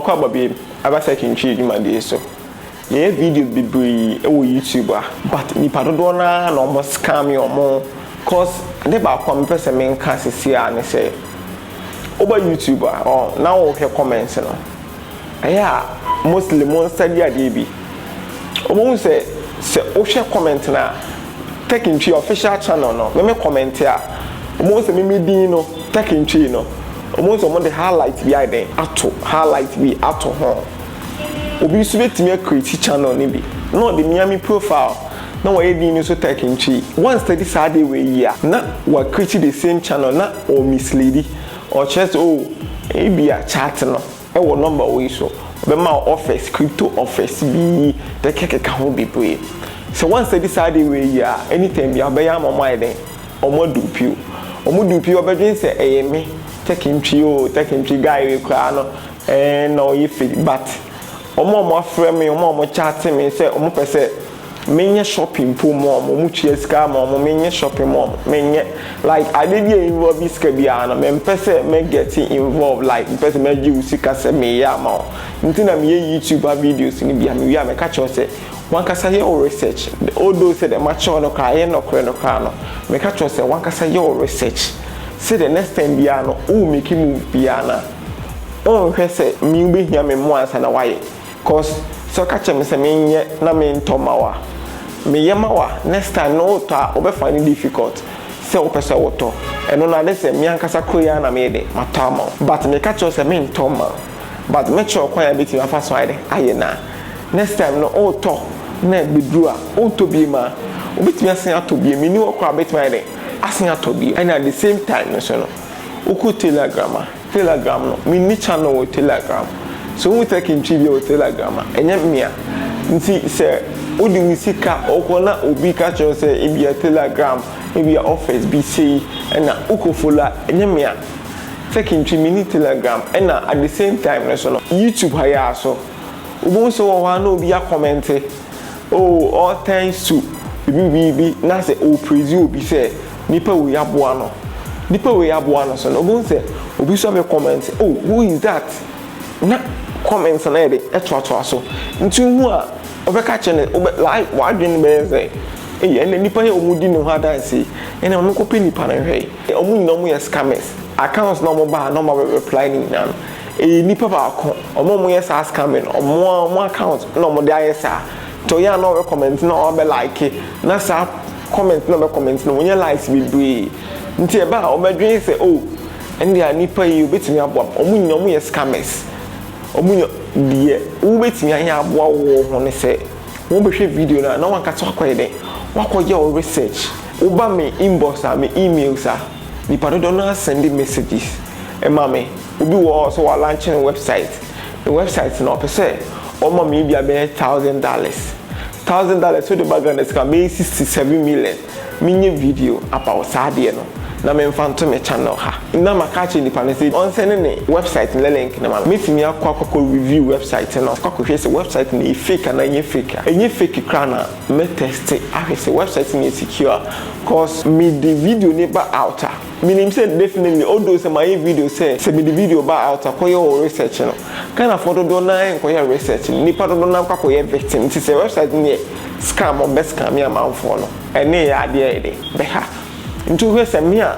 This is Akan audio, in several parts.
Ɔkɔ abɔbeyɛm aba sɛ kentwi dwumadie so. Yɛyɛ video bebree wɔ YouTube a but nipa dodoɔ no ara na ɔmo scam ɔmo cos ade baako a mepɛ sɛ menka sesei ara ne sɛ woba YouTube a or na wohwɛ comments no ɛyɛ a mostly mo nsa di adeɛ bi ɔmo hu sɛ sɛ wohwɛ comment no a Tech Ntwi official channel no me me comment a ɔmo hu sɛ me me din no Tech Ntwi no ɔmo hu sɛ ɔmo de highlight bi ayɛ dɛn ato highlight bi ato ho obi nso bɛtumi a create channel no bi na ɔde mea me profile na wayɛ din no nso Tech Ntwi wa study saa adeɛ wei yi a na wa create the same channel na ɔ misleadi ɔkyerɛ sɛ oh ebia chart no. Wɔ nɔmba wei so, ɔbɛma wo offers, crypto offers bi, kekakeka ho bebree. Sɛ woansɛdi saa ade wei yie a, anytime biara ɔbɛyɛ ama wɔayɛ dɛn? Wɔadupe wo. Wɔdupe wo a, ɔbɛdwene sɛ ɛyɛ me, Tekintwi oo, Tekintwi, guy wei koraa no, ɛɛn na ɔyɛ fake but wɔn a wɔafrɛ me, wɔn a wɔkyate me sɛ wɔpɛ sɛ. Menyɛ shopping mpo ma wɔn, wɔn tua sika ama wɔn, menyɛ shopping ma wɔn, menyɛ, like ade bi a involve sika biara no, mempɛ sɛ mɛ get involve, like mempɛ sɛ mɛgye wo sika sɛ meyɛ ama wo, nti na meyɛ YouTube a videos no bi a, mewie a mɛka kyerɛ wo sɛ, w'ankasa yɛ wo research, although sɛ deɛ makyerɛ wo no koraa ɛyɛ nɔkorɛ no koraa no, meka kyerɛ wo sɛ w'ankasa yɛ wo research, sɛ deɛ next time biara no wo make move biara no a, wonhwɛ sɛ me wobɛhia me mmoa ansa na woayɛ. cos sɛ ɔka kyerɛ me sɛ menyɛ na mentɔ ma wo a, meyɛ ma wo a, next time no wotɔ a wobɛ find it difficult sɛ wopɛ sɛ wotɔ. Ɛno no ade sɛ me ankasa koro yi ara na meyɛ dɛn matɔ ama wo. But meka kyerɛ wo sɛ mentɔ mma wo. But mɛkyerɛ wo kwan a yɛbɛtumi afa so ayɛ dɛn ayɛ no a next time no wotɔ na ɛbɛduru a wontɔ biom a wobɛtumi asan atɔ biom. Menni hɔ koraa a wobɛtumi ayɛ dɛn asan atɔ biom. Ɛna the same time nso no wokɔ tailor adwuma ma. Telegram no menni channel wɔ telegram sɛ wohu tech ntwi bia wɔ telegram a ɛnyɛ mea nti sɛ wode wo sika ɔkɔ na obi ka kyerɛ wo sɛ ebia telegram ebia office bi sei ɛna wokɔ follow a ɛnyɛ mea tech ntwi menni telegram ɛna at the same time no so no YouTube ha yɛ a so wobɛhu sɛ wɔ hɔ a na obi a comment oh all thanks to bibi bibi na sɛ o praise obi sɛ Nipa wei aboa no Nipa wei aboa no so no wobɛhu sɛ obi nso abɛ comment oh who is that na comments no ayɛ dɛ ɛtoatoa so nti wohu a wobɛka akyerɛ no wobɛ like w'adwene bɛyɛ sɛ ei ɛnna nipa yi a wɔdi ne ho adanse yi ɛnna ma menkɔpɛ nipa no nhwɛ wɔn nyinaa wɔn yɛ scammers accounts na wɔn baa na wɔn abɛ reply ne nyinaa no ɛyɛ nipa baako wɔn a wɔn yɛ saa scamming no wɔn a wɔn account na wɔn de ayɛ saa nti ɔyɛ a na wɔbɛ comment na wɔn abɛ like na saa comment na ɔbɛ comment no wɔnyɛ likes bebree nti ɛba a ɔbɛ dwen sɛ oh ɛnde a nipa yi obetumi aboa me ɔmo nyina ɔmo yɛ scammers ɔmo nyɛ deɛ wo betumi ayɛ aboa wo wɔ ho ne sɛ wɔn bɛ hwɛ video na na wɔn ankasa wakɔ yɛ dɛ wakɔ yɛ wo research wo ba me inbox a me emails a nipa dodoɔ no ara sɛnde messages ɛma me. Obi wɔ hɔ sɛ wa lankye ne wɛbsaet, ne wɛbsaet no ɔpɛ sɛ ɔma me ebia bɛyɛ thousand dollars, thousand dollars sɛ wode ba Ghana sika a bɛyɛ sixty seven million, me nyɛ video about saa adeɛ no na me nfa nto me channel ha na ma ka akyerɛ nipa no sɛ ɔnsɛne ne wɛbsaet no link no ma me, mɛ tumi akɔ akɔkɔ review wɛbsaet no akɔ akɔ hwɛ sɛ wɛbsaet no yɛ fake anaa ɛnyɛ fake a ɛnyɛ fake koraa na mɛ tɛste ahwɛ sɛ wɛbsaet no yɛ secure a cause me de video no ba out a. Menim sɛ definitely although sɛ mayɛ video sɛ sɛ mede video ba out a kɔyɛ wo research no, Ghanafoɔ dodoɔ no ara nkɔyɛ research no, nnipa dodoɔ no ara kɔ akɔyɛ victim nti sɛ website no yɛ scam a wɔbɛ scame amanfoɔ no ɛne yɛ adeɛ a yɛde bɛha nti wohwɛ sɛ me a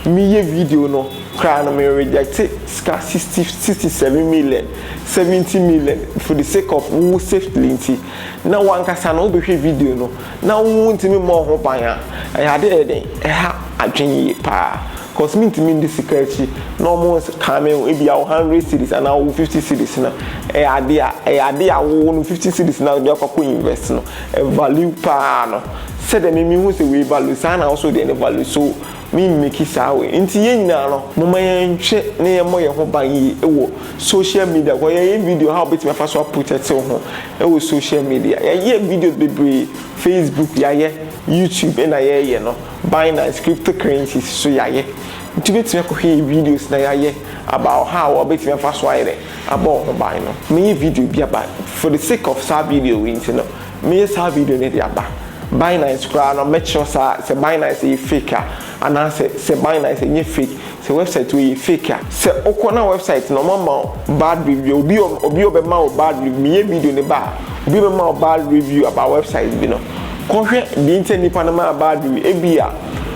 meyɛ video no koraa no me rejecte sika sixty sixty seven million seventy million for the sake of wo safely nti na wankasa no wobɛhwɛ video no na wontumi mmɔ ho ban a, ɛyɛ ade a ɛyɛ den, ɛha adwene yie paa cause mentumi ndi sika akyi na wɔkan me ho ebia wo hundred cedis anaa wo fifty cedis no, ɛyɛ ade a ɛyɛ ade a wo no fifty cedis no a wode akɔ akɔ invest no, ɛvalue paa no, sɛdeɛ me mehu sɛ wei value saa na wo nso deɛ no value so. Me mmeki saa wei. Nti yɛn nyinaa no, momma yɛnhwɛ na yɛmmɔ yɛn ho ban yie wɔ social media kɔ. Yɛyɛ video how wobɛtumi afa so aprotɛte wo ho wɔ social media. Yɛayɛ videos bebree, Facebook yɛayɛ, YouTube ɛna yɛreyɛ no, Binance, crypto currencies nso yɛayɛ. Nti wobɛtumi akɔhwɛ yɛn videos na yɛayɛ about how a wobɛtumi afa so ayɛ dɛ abɔ wo ho ban no. Mɛyɛ video bi aba for the sake of saa video wei nti no. Meyɛ saa video no de aba. Binance koraa no mɛkyerɛ saa sɛ Binance yɛ fake a anaasɛ sɛ Binance nyɛ fake, sɛ website wei yɛ fake a. Sɛ wokɔ na website no wɔama wo bad review, obi a obi a ɔbɛma wo bad review, meyɛ video no ba a, obi a ɔbɛma wo bad review about website bi no, kɔhwɛ deɛ nti a nipa no maa bad review. Ebia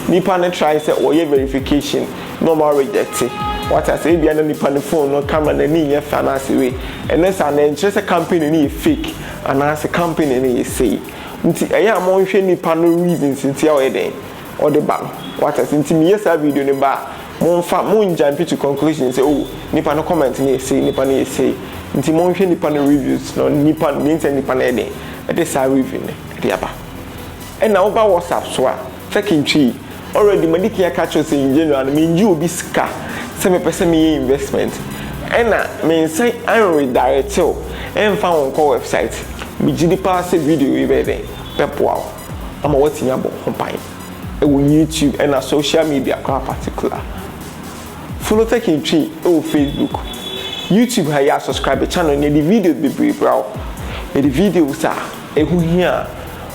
nipa no try sɛ ɔyɛ verification na wɔn a rejecte. Wate aseɛ? Ebia na nipa no phone no camera no ani nyɛ fɛ anaasɛ wei. Ɛno saa no ɛnkyerɛ sɛ company no yɛ fake Anaase company no yɛ sei nti ɛyɛ a mo nhwɛ nipa no reasons nti a ɔyɛ dɛn ɔde ba no wate aseɛ nti me yɛ saa video no ba a mo nfa mo njumpi to conclusion sɛ oh nipa no comment no yɛ sei nipa no yɛ sei nti mo nhwɛ nipa no reviews no nipa no mean sɛ nipa no ayɛ dɛn ɛde saa review no ɛde aba ɛna wo ba WhatsApp so a Turkey ntwii. Already madi kan aka akyerɛ wo sɛ in January no mengye obi sika sɛ mepɛ sɛ meyɛ investment ɛna mensan an redirect wo ɛmfa wo nkɔ website. Megye di paa sɛ video yi bɛyɛ dɛn? Bɛboa wo ama woatumi abɔ ho ban ɛwɔ YouTube ɛna social media koraa particular. Follow Turkey ntwii ɛwɔ Facebook, YouTube ha yɛ subscribe channel no yɛde videos bebree bra wo. Yɛde videos a ɛho hia a